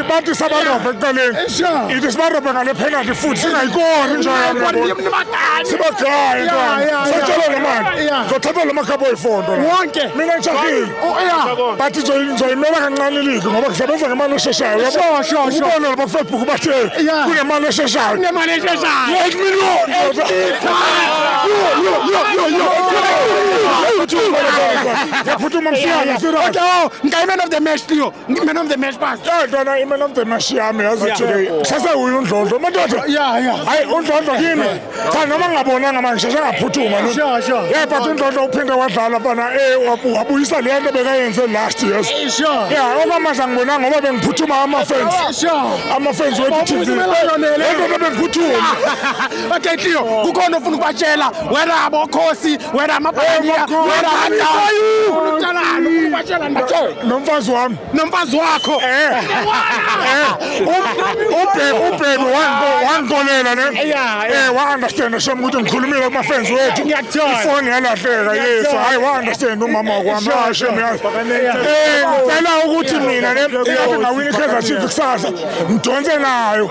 Bathi sabarobhe ekuqaleni. Ithi sibarobhe ngale penalty futhi singayikori into yami. Sibagaye ntwana. Sotshela le mali. Zothatha lo makhabo oyifondo. Wonke. Mina ngishakile. Oh, Bathi nje ngizoyimela kancane iligi ngoba ngisebenza ngemali esheshayo. Yabo. Sho sho. Ubona lapha Facebook bathi kunemali esheshayo. Kunemali esheshayo. 8 million. Yo yo yo yo yo. Yaphuthuma msiyazi. Okay, oh, ngayimena of the match Leo. ngiman of the match bas yadlala iman of the match yami yazi today sasewuye undlondlo madoda hayi undlondlo kimi cha noma ngingabonanga manje sheshe ngaphuthuma yeah but undlondlo uphinde wadlala mfana eh wabuyisa le nto bekayenze last years yeah okwamanje angibonanga ngoba bengiphuthuma ama-fans ama-fans wethu tv lento bengiphuthuma okay tio kukhona ofuna ukubatshela whether abokhosi whether amabhaliya whether nomfazi wami nomfazi wakho eh. Eh. ubheki wangikonela ne um wa-understanda shem ukuthi ngikhulumile kumafenzi wethu ifoni yalahleka yesu hhayi wa-understanda umama wakwami hayi shem yazi um ngicela ukuthi mina ne ingabingawini ikaizer chief kusasa ngidonse nayo